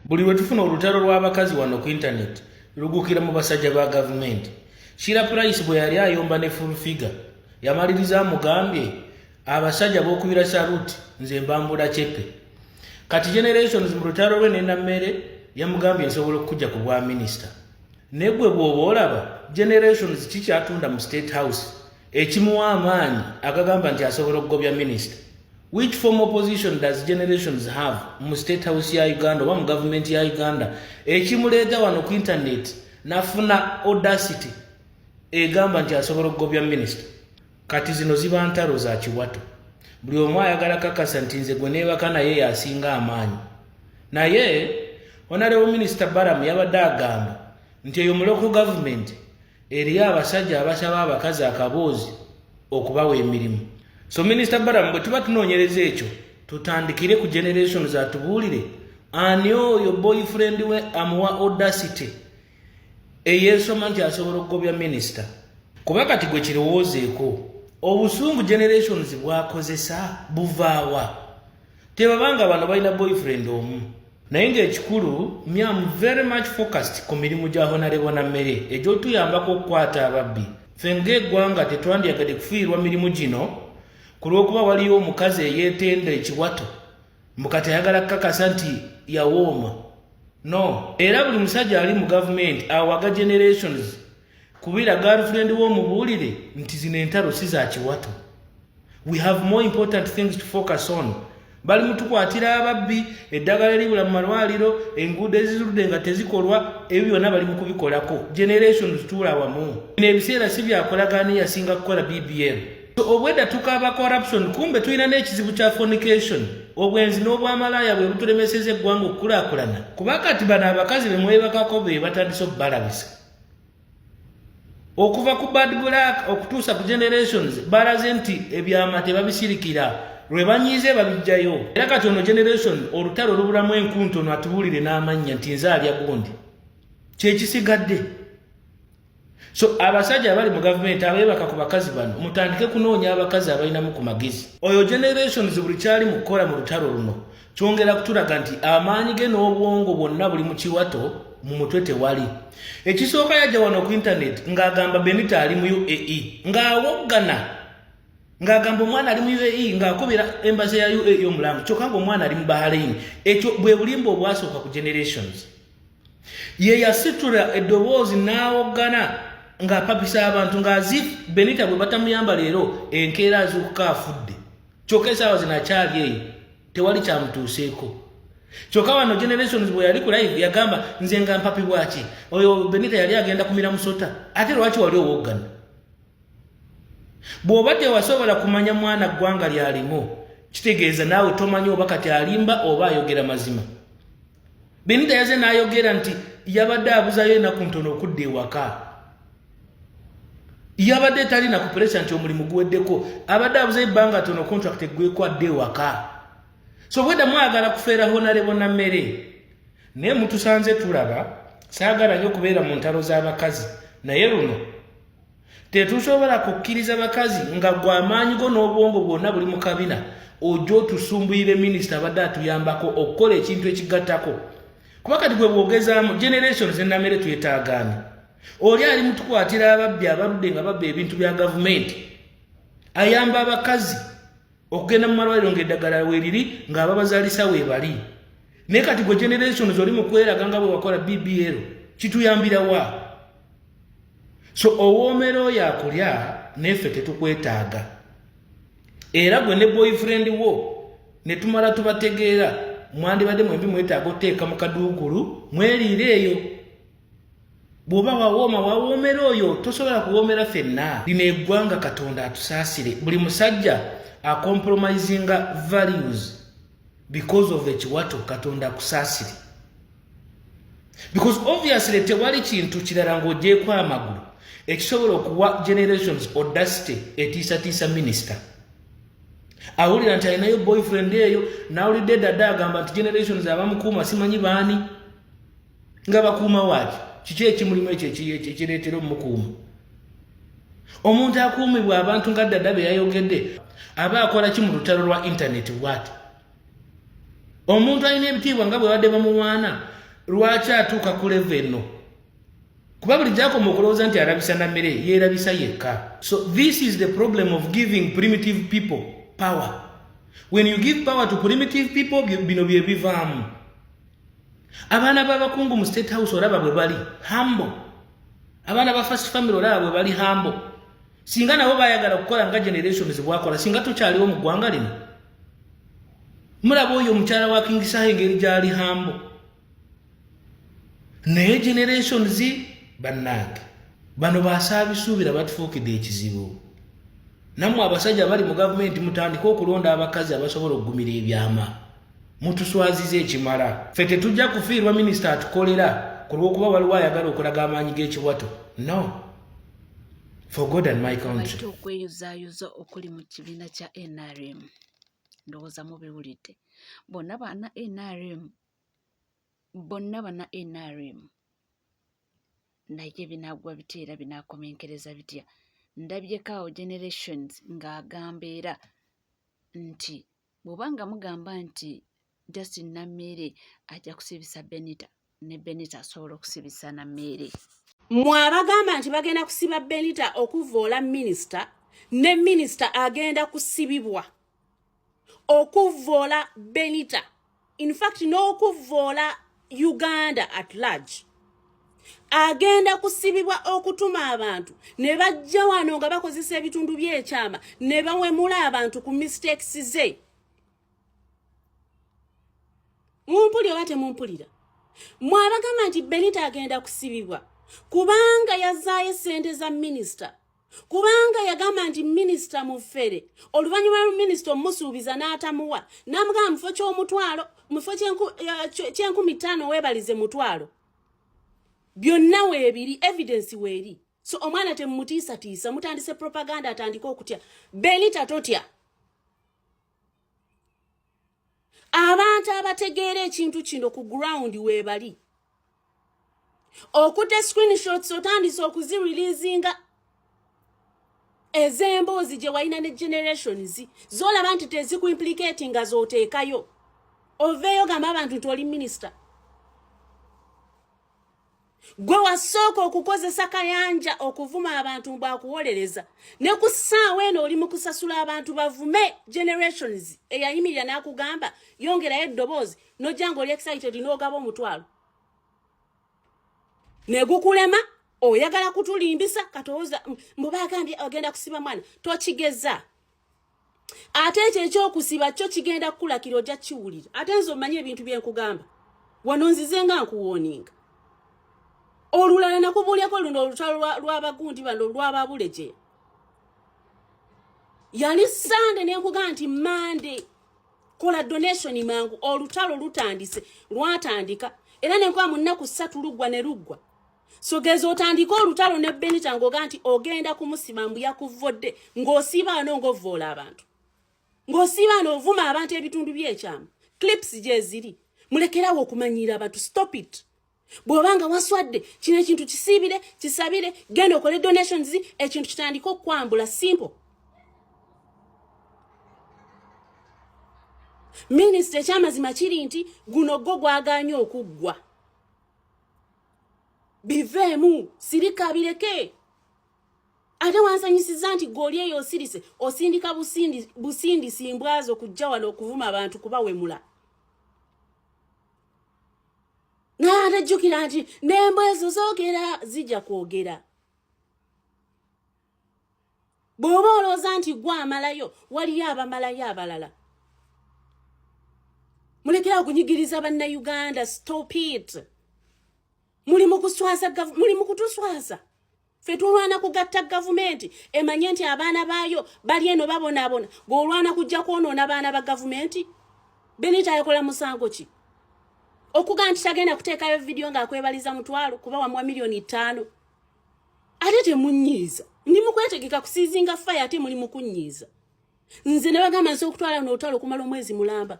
Buli lwe tufuna olutalo lw'abakazi wano ku intaneti lugukira mu basajja ba gavumenti. Shira Price bwe yali ayomba ne Full Figure yamaliriza amugambye abasajja b'okubira saluti nze mbambula cepe. Kati Generations mu lutalo lwe ne Nammere yamugambye nsobola okukujja ku bwa minisita. Ne gwe bw'oba olaba Generations kikyatunda mu State House ekimuwa amaanyi agagamba nti asobola okugobya minisita. Which form of position does generations have mu state house ya Uganda oba mu government ya Uganda ekimuleeta wano ku internet nafuna audacity egamba nti asobola okugobya minister kati zino ziba ntalo za kiwato buli omu ayagala kakasa nti nze gwe neebaka naye yasinga amaanyi naye honorable minister baram yabadde agamba nti eyo muloko gavumenti Eriyo abasajja abasaba abakazi akaboozi okubawa emirimu. So Minisita Balamu, bwe tuba tunoonyereza ekyo, tutandikire ku generation zatubuulire ani oyo boyfriend we amuwa audacity eyeesoma nti asobola okugobya minisita. Kuba kati gwe kirowoozeeko, obusungu generations bwakozesa buvaawa? tebabanga bano balina boyfriend omu naye ngaekikulu mi am very much focused ku mirimu gya honarebo na mmere egyotuyambako okukwata ababbi fe ngaegwanga tetwandiyagadde kufiirwa mirimu gino ku lw'okuba waliyo omukazi eyeetenda ekiwato mukati ayagala kukakasa nti yawooma no era buli musajja ali mu gavumenti awaga generations kubira girlfriend wo mubulire nti zino entaro si za kiwato we have more important things to focus on bali mutukwatira ababbi eddagala eribula mu malwaliro enguudo ezizudde nga tezikolwa ebyo byonna bali mukubikolako generation zituula wamu bino ebiseera si byakolagaana eyasinga kukola bbm so obwedda tukaba corruption kumbe tulina n'ekizibu kya fornication obwenzi n'obwamalaaya bwe butulemeseza eggwanga okukulakulana kuba kati bano abakazi bemwebakako be batandise okubalabisa okuva ku bad black okutuusa ku generations balaze nti ebyama tebabisirikira lwe banyiize babijjayo era kati ono generation olutalo olubulamu enkunto ono atubuulire n'amannya nti nze alya gundi kyekisigadde so abasajja abali mu gavumenti abeebaka ku bakazi bano mutandike kunoonya abakazi abalinamu ku magezi oyo generations buli kyali mu kukola mu lutalo luno kyongera kutulaga nti amaanyi ge n'obwongo bwonna buli mu kiwato mu mutwe tewali ekisooka yajja wano ku intaneti ng'agamba benita ali mu uae ng'awoggana ng'agamba omwana ali mu uae ng'akubira embaza ya uae omulamu kyokka ng'omwana ali mu bahaleini ekyo bwe bulimba obwasooka ku generations ye yasitula eddoboozi n'awoggana ng'apapisa abantu ng'azifu benita bwe batamuyamba leero enkeera azuukuka afudde kyoka esawa zino akyali eyo tewali kyamutuuseeko kyoka wano generations bwe yali ku live yagamba nze nga mpapi bwaki oyo benita yali agenda kumira musota ate lwaki wali owoggana bw'oba tewasobola kumanya mwana ggwanga lyalimu kitegeeza naawe tomanya oba kati alimba oba ayogera mazima benita yaze nayogera nti yabadde abuzayo enaku ntono okudda ewaka yabadde tali nakupresa nti omulimu guweddeko abadde abuzayo ebbanga tono contract eggweko adde ewaka so bwedda mwagala kufeera honarebo na mmere naye mutusanze tulaba saagala nyo okubeera mu ntalo z'abakazi naye luno tetusobola kukkiriza bakazi nga gwe amaanyi go n'obwongo bwonna buli mu kabina ojja otusumbuyire minisita abadde atuyambako okukola ekintu ekigattako kuba kati gwe bwogezaamu generation zenamere twetaagaani oli ali mutukwatira ababbi abaludde nga babba ebintu bya gavumenti ayamba abakazi okugenda mu malwaliro ng'eddagala weeriri ng'ababazaalisa weebali naye kati gwe generations oli mu kweraga nga bwe wakola bbl kituyambira wa so owoomera oyo akulya neeffe tetukwetaaga era gwe ne boyfriend wo ne tumala tubategeera mwandibadde mwembi mwetaaga oteeka mu kaduukulu mweriire eyo bw'oba wawooma wawoomera oyo tosobola kuwoomera fenna lino eggwanga katonda atusaasire buli musajja acompromisinga values because of ekiwato katonda akusaasire because obviously tewali kintu kirala ng'ogyeko amagulu ekisobola okuwa generations audacity etiisatiisa minisita awulira nti alinayo boyfriend eyo nawulidde dada agamba nti generations abamukuuma simanyi baani nga bakuuma waaki kiki ekimulimu ekyo ekireetera omukuuma omuntu akuumibwa abantu nga ddada be yayogedde aba akola ki mu lutalo lwa intaneti bwati omuntu alina ebitiibwa nga bwe badde bamuwaana lwaki atuuka ku leva eno kuba buli gyakoma okulowooza nti arabisa na mmere yeerabisa yekka so this is the problem of giving primitive people power when you give power to primitive people bino bye bivaamu abaana b'abakungu mu state house olaba bwe bali hambo abaana ba first family olaba bwe bali hambo singa nabo bayagala okukola nga generation zibwakola singa tukyaliwo mu ggwanga lino mulaba oyo omukyala wa kingisaha engeri gyali hambo naye generation zi bannange bano basaabisuubira batufuukidde ekizibu nammwe abasajja bali mu gavumenti mutandike okulonda abakazi abasobola okugumira ebyama mutuswaziza ekimala ffe tetujja kufiirwa minisita atukolera ku lw'okuba waliwo ayagala okulaga amaanyi g'ekiwato no for god and my country okweyuzayuza okuli mu kibiina kya nrm ndowooza mubiwulidde bonna bana nrm bonna bana nrm naye binaagwa bitya era binaakomenkereza bitya ndabyeko awo generations ng'agamba era nti bw'oba nga mugamba nti just nammeere ajja kusibisa benita ne benita asobola okusibisa nammeere mwe abagamba nti bagenda kusiba benita okuvoola minisita ne minisita agenda kusibibwa okuvoola benita in fact n'okuvvoola uganda at large agenda kusibibwa okutuma abantu ne bajja wano nga bakozesa ebitundu by'ekyama ne bawemula abantu ku mistakes ze mumpuli oba temumpulira mwabagamba nti benita agenda kusibibwa kubanga yazaayo sente za minisita kubanga yagamba nti minisita mufere oluvannyuma lwa minisita omusuubiza n'atamuwa namugamba mufo ky'omutwalo mufo kyenkumi ttaano weebalize mutwalo byonna weebiri evidensi weeri so omwana temumutiisatiisa mutandise propaganda atandike okutya benita totya abantu abategeera ekintu kino ku ground weebali okute screenshots otandise okuzireleasinga ez'emboozi gye walina ne generations zolaba nti tezikuimplikati nga zooteekayo oveeyo gamba abantu nti oli minisita gwe wasooka okukozesa kayanja okuvuma abantu bwakuwolereza ne ku ssaawa eno oli mu kusasula abantu bavume generations eyayimirira n'akugamba yongerayo eddoboozi nojja nga oli excited n'ogaba omutwalo negukulema oyagala kutulimbisa katooza mbu bagambye agenda kusiba mwana tokigeza ate ekyo ekyokusiba kyo kigenda kukulakira ojja kiwulira ate nze omanye ebintu byenkugamba wano nzize nga nkuwoninga olulala nakubuulyako luno olutalo lwabagundi bano lwababuleje yali sande nenkugamba nti mande kola donation mangu olutalo lutandise lwatandika era nenkuba mu nnaku ssatu luggwa ne luggwa sogeza otandika olutalo ne benita ngaoga nti ogenda kumusima mbu yakuvvodde ng'osiiba ano ng'ovvoola abantu ng'osiiba ano ovuma abantu ebitundu by'ekyamu clips gyeziri mulekerawo okumanyiira abantu stop it bw'oba nga waswadde kino ekintu kisiibire kisabire genda okole donations ekintu kitandika okukwambula simple minisita ekyamazima kiri nti guno gwo gwagaanye okuggwa biveemu sirika bireke ate wansanyisiza nti goli eyo osirise osindika busindi busindi simbwazo kujja wano okuvuma abantu kuba wemula natajjukira nti nembo ezo zogera zija kwogera bw'oba olowooza nti gwe amalayo waliyo abamalayo abalala mulekera okunyigiriza bannayuganda stop it muli mukuswaza muli mukutuswaza fe tulwana kugatta gavumenti emanye nti abaana baayo bali eno babonaabona gweolwana kujja kwonoona baana ba gavumenti benita ayakola musango ki okuga nti tagenda kuteekayo vidiyo ng'akwebaliza mutwalo kuba wamuwa miliyoni ttaano ate temunyiiza ndi mukwetegeka kusiizinga faya ate muli mukunyiiza nze nebagamba nsi okutwala nootala okumala omwezi mulamba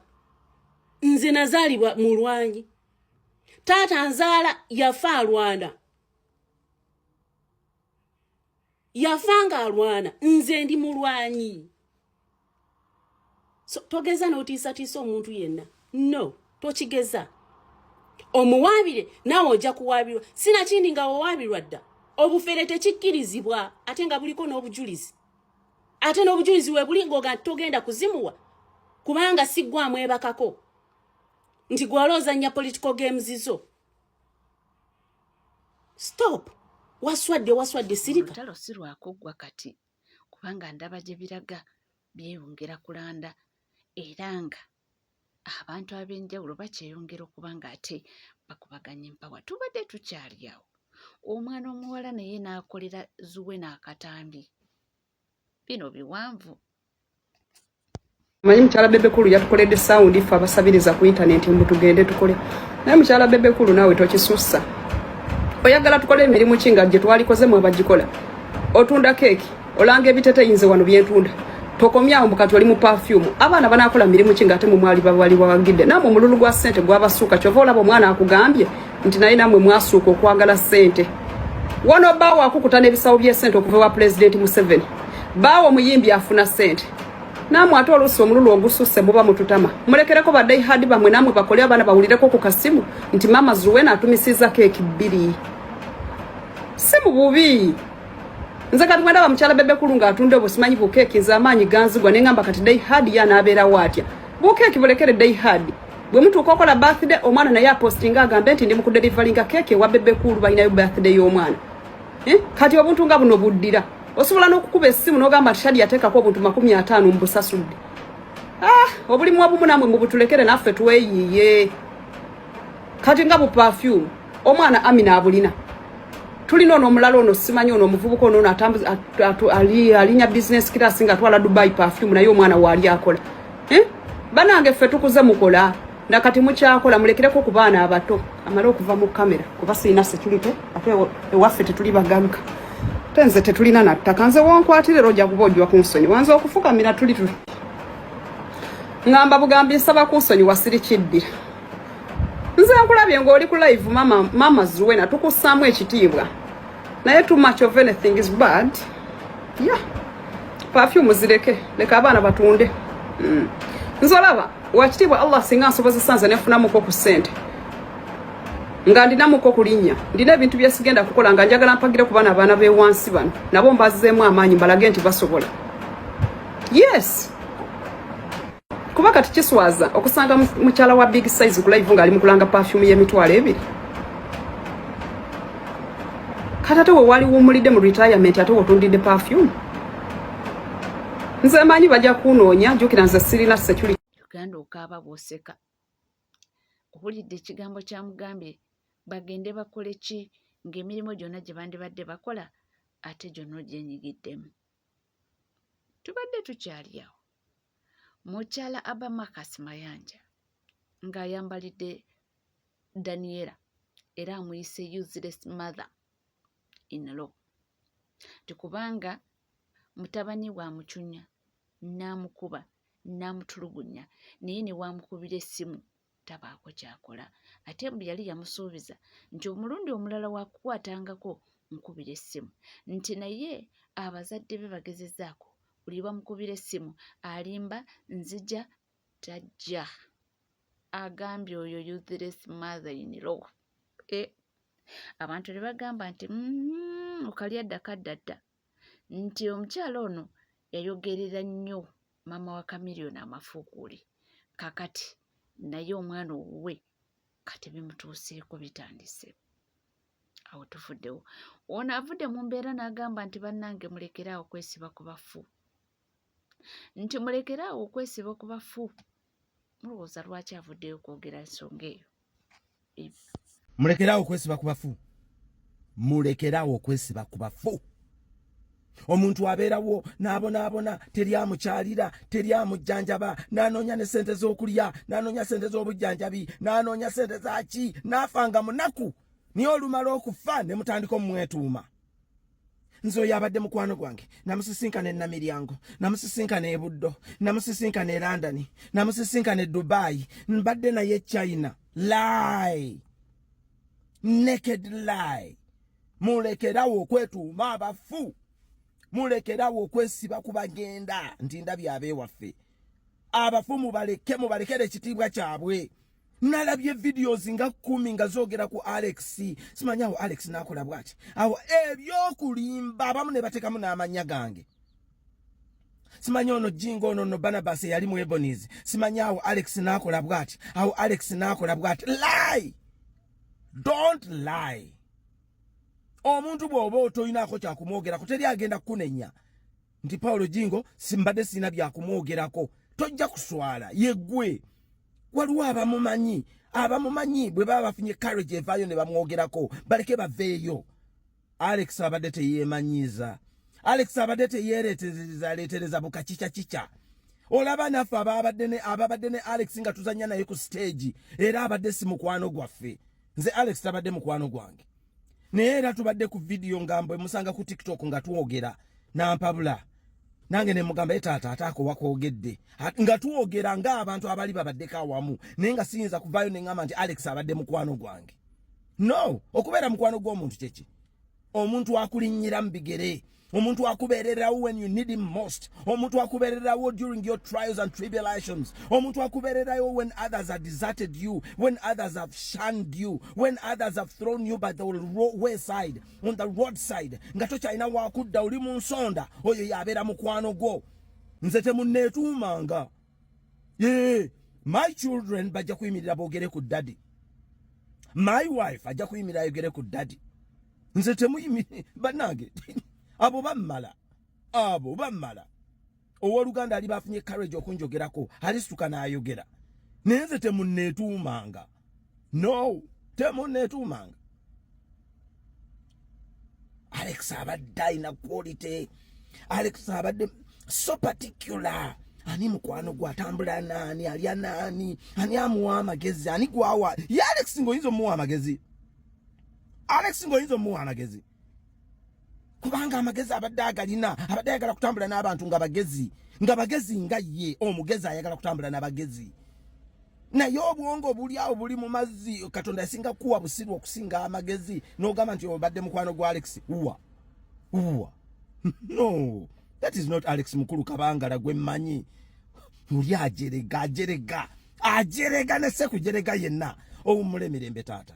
nze nazaalibwa mu lwanyi taata nzaala yafa alwana yafa nga alwana nze ndi mulwanyi so, togeza notiisatiisa omuntu yenna no tokigeza omuwaabire naawe ojja kuwaabirwa sinakindi nga wawaabirwa dda obufere tekikkirizibwa ate nga buliko n'obujulizi ate n'obujulizi webuli ngaoga togenda kuzimuwa kubanga siggwamu ebakako nti gwewala ozannya political games zo stop waswadde waswadde sirika lutalo si lwakuggwa kati kubanga ndaba gye biraga byeyongera kulanda era nga abantu ab'enjawulo bakyeyongera okuba ng'ate bakubaganya empawa tubadde tukyali awo omwana omuwala naye n'akolera zuwe n'akatambi bino biwanvu manyi mukyala bebekulu yatukoledde sawundi ffe abasabiriza ku intanenti mbu tugende tukole naye mukyala bebekulu naawe tokisussa oyagala tukole emirimu ki nga gye twalikoze mu abagikola otunda keeki olanga ebiteteyinze wano byentunda tokomyawo mbu kati oli mu pafyumu abaana banakola mirimu ki nga ate mumwali babali bawagidde namwe omululu gwa sente gwabasuuka kyova olaba omwana akugambye nti naye namwe mwasuuka okwagala sente wano baawo akukuta n'ebisawo by'esente okuva wa pulezidenti museveni baawo omuyimbi afuna sente namwe ate oluusi omululu ogususse muba mututama mulekereko badaihadi bamwe namwe bakole abaana bawulireko ku kasimu nti maama zuwena atumisiza keeki bbiri si mu bubi nze kati bwendaba mukyala bebekulu nga atunda obusimanyi bukeeki nze amaanyi ganzigwa ne ngamba kati daihadi yanaabeerawo atya bukeeki bulekere daihadi bwe mutuuka okola birthday omwana naye apostinga agambe nti ndi mu kuderivalinga keeke ewa bebe kuulu balinayo birthday y'omwana eh? kati obuntu nga buno buddira osobola n'okukuba essimu n'ogamba nti shadi yateekako obuntu makumi ataano mu busasudde ah, obulimu wabumu namwe mubutulekere naffe tweyiye kati nga bu perfume omwana amina abulina tulina ono omulala ono simanyi ono omuvubuka ono ono alinya business class nga twala dubai perfume naye omwana waali akola eh? banange ffe tukuze mukola nakati mukyakola mulekireko ku baana abato amale okuva mu kamera kuba sirina security ate ewaffe tetuli bagamka te nze tetulina nattaka nze wonkwatira era ojja kuba ojwa kunsonyi wanze okufukamira tuli tuli ngamba bugambi nsaba kunsonyi wasiri kiddira nze nkulabye ng'oli ku live mama, mama zuwena tukussaamu ekitiibwa naye too much of anything is bad yeah perfume zireke leka abaana batunde mm. nzolaba wakitiibwa allah singa nsobozesa nze nefunamuko ku sente nga ndinamuko kulinnya ndina ebintu byesigenda kukola nga njagala mpagire ku bana abaana bewansi bano nabo mbazizeemu amaanyi mbalage nti basobola yes kuba kati kiswaza okusanga mukyala wa big size kulaivu ngaali mukulanga pafyumu yemitwalo ebiri kati ate wewali wumulidde mu retirement ate wotundidde pafyumu nze manyi bajja kunoonya jukira nze sirina security uganda okaaba bwoseka owulidde ekigambo kyamugambye bagende bakole ki ng'emirimu gyonna gye bandibadde bakola ate gyonna ogyenyigiddemu tubadde tukyali awo mukyala abamakas mayanja ng'ayambalidde daniela era amuyise useless mother in law ti kubanga mutabani wa mucunya n'amukuba n'amutulugunya naye ne waamukubira essimu tabaako kyakola ate mbu yali yamusuubiza nti omulundi omulala wakukwatangako nkubira essimu nti naye abazadde be bagezezaako buli bamukubira essimu alimba nzija tajja agambye oyo useless mother in law e abantu ne bagamba nti mm-hmm, okalya dda kadda dda nti omukyala ono yayogerera nnyo maama wa kamiriyoni amafuukuuli kakati naye omwana owuwe kati bimutuuseeko bitandise awo tufuddewo ono avudde mu mbeera n'agamba nti bannange mulekeraawo okwesiba ku bafu nti mulekeraawo okwesiba ku bafu mulowooza lwaki avuddeyo okwogera ensonga eyo mulekeraawo okwesiba ku bafu mulekeraawo okwesiba ku bafu omuntu abeerawo n'abonaabona teri amukyalira teri amujjanjaba n'anoonya ne ssente z'okulya n'anoonya ssente z'obujjanjabi n'anoonya ssente zaki n'afa nga munaku naye olumala okufa ne mutandika omumwetuuma nze oyo abadde mukwano gwange namusisinkana enamiryango namusisinkana ebuddo namusisinkana e londoni namusisinkana e dubai mbadde naye e china lie naked lie mulekerawo okwetuuma abafu mulekerawo okwesiba ku bagenda nti ndabye abeewaffe abafu mubaleke mubalekere ekitiibwa kyabwe nalabye videos nga kumi nga zogera ku alex simanyi awo alex nakola bwati awo ebyokulimba abamu ne batekamu n'amanya gange simanyi ono jingo ono no banabas eyali mu ebonies simanyi awo alex nakola bwati awo alex nakola bwati lie don't lie omuntu bw'oba otolinaako kyakumwogerako teri agenda kukunenya nti paulo jingo simbadde sirina byakumwogerako tojja kuswala yegwe waliwo abamumanyi abamumanyi bwe baba bafunye carriage evaayo ne bamwogerako baleke baveeyo alex abadde teyeemanyiiza alex abadde teyeereeterezaleetereza bukakica kica olaba naffe ababadde ne ababadde ne alex nga tuzanya naye ku siteegi era abadde si mukwano gwaffe nze alex tabadde mukwano gwange naye era tubadde ku vidiyo nga mbwe musanga ku tiktok nga twogera nampabula nange ne mugamba ye taata ataako wakwogedde nga twogera ng'abantu abali babaddeko awamu naye nga siyinza kuvaayo ne ŋamba nti alex abadde mukwano gwange no okubeera mukwano gw'omuntu kyeki omuntu akulinnyira mu bigere omuntu akubeererawo when you need him most omuntu akubeererawo during your trials and tribulations omuntu akubeererawo when others have deserted you when others have shunned you when others have thrown you by the wayside on the road side nga tokyalina wakudda oli mu nsonda oyo yabeera mukwano gwo nze temunneetuumanga yeah. my children bajja kuyimirira boogere ku daddy my wife ajja kuyimirira ayogere ku daddy nze temuyimiri banange abo bammala abo bammala owoluganda ali bafunye courage okunjogerako alisituka n'ayogera naye nze temunneetuumanga no temo netumanga alex abadde alina quality alex abadde so particular ani mukwano gwe atambula naani alya naani ani amuwa amagezi ani gwawa ye alex ngaoyinza omuwa amagezi alex ngaoyinza omuwa amagezi kubanga amagezi abadde agalina abadde ayagala kutambula n'abantu nga bagezi nga bagezi nga ye omugezi ayagala kutambula n'abagezi naye obwongo buli awo buli mu mazzi katonda yasinga kuwa busiru okusinga amagezi n'ogamba nti obadde mukwano gwa alex uwa uwa no that is not alex mukulu kabangala gwe mmanyi muli ajerega ajerega ajerega ne sekujerega yenna owummula emirembe taata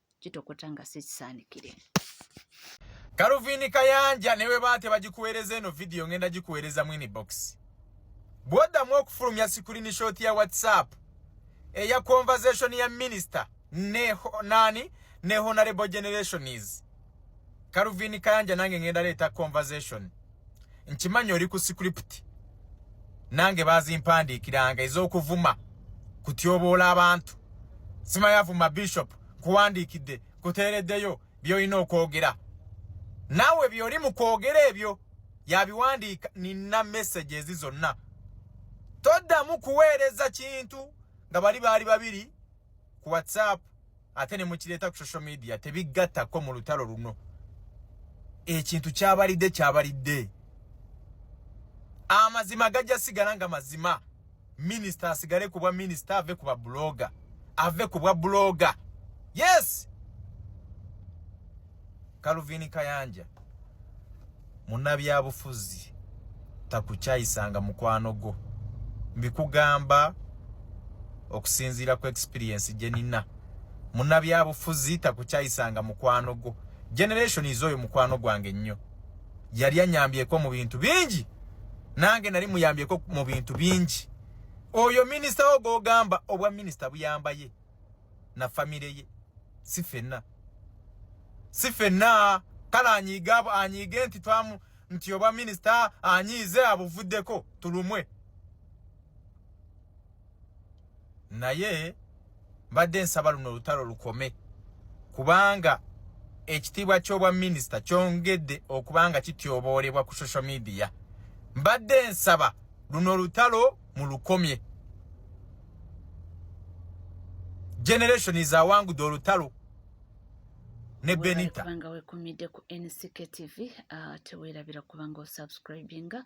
kitokota nga si kisaanikire kaluvini kayanja newe baa tebagikuweereza eno vidiyo ngenda gikuweereza mwini box bwoddamu okufulumya sikulini shoti ya whatsapp eya conversation ya minisita ne nani ne honorable generations Calvin Kayanja nange ngenda leeta conversation nkimanyi oli ku script nange bazimpandiikiranga ez'okuvuma kutyoboola abantu simanyi avuma bishop kuwandiikidde kuteereddeyo byolina okwogera naawe byoli mu kwogera ebyo yabiwandiika nina message ezi zonna toddamu kuweereza kintu nga bali baali babiri ku whatsapp ate ne mukireeta ku social media tebiggattako mu lutalo luno ekintu kyabalidde kyabalidde amazima gajja sigala nga mazima minisita asigale ku bwa minisita ave ku babuloga ave ku bwa buloga yes Calvin Kayanja munabyabufuzi takukyayisanga mukwano gwo mbikugamba okusinziira ku experience gye nina munabyabufuzi takukyayisanga mukwano gwo generation is oyo mukwano gwange nnyo yali anyambyeko mu bintu bingi nange nali muyambyeko mu bintu bingi oyo minisita wo gwogamba obwa minisita buyambaye na family ye si fenna si fenna kale anyiige abo anyiige nti twamu nti obwa minisita anyiize abuvuddeko tulumwe naye mbadde nsaba luno olutalo lukome kubanga ekitiibwa ky'obwa minisita kyongedde okubanga kityoboolebwa ku social media mbadde nsaba luno olutalo mulukomye generation is awangudde olutalo ne benita kubanga wekumidde ku nck tv uh, tewerabira kubanga osubscribinga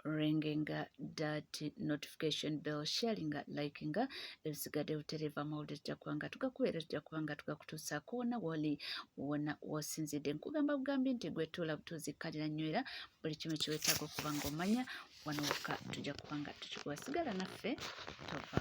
ringinga dat notification bell sharinga likinga ebisigadde butereeva mawulire tujja kuba nga tugakubeera tujja kuba nga tugakutuusa koona woli wona wosinzidde nkugamba bugambi nti gwetuula butuuzi kkalira nnywera buli kimu kiwetaaga okuba nga omanya wano wokka tujja kuba nga tukikuwa sigala naffe tova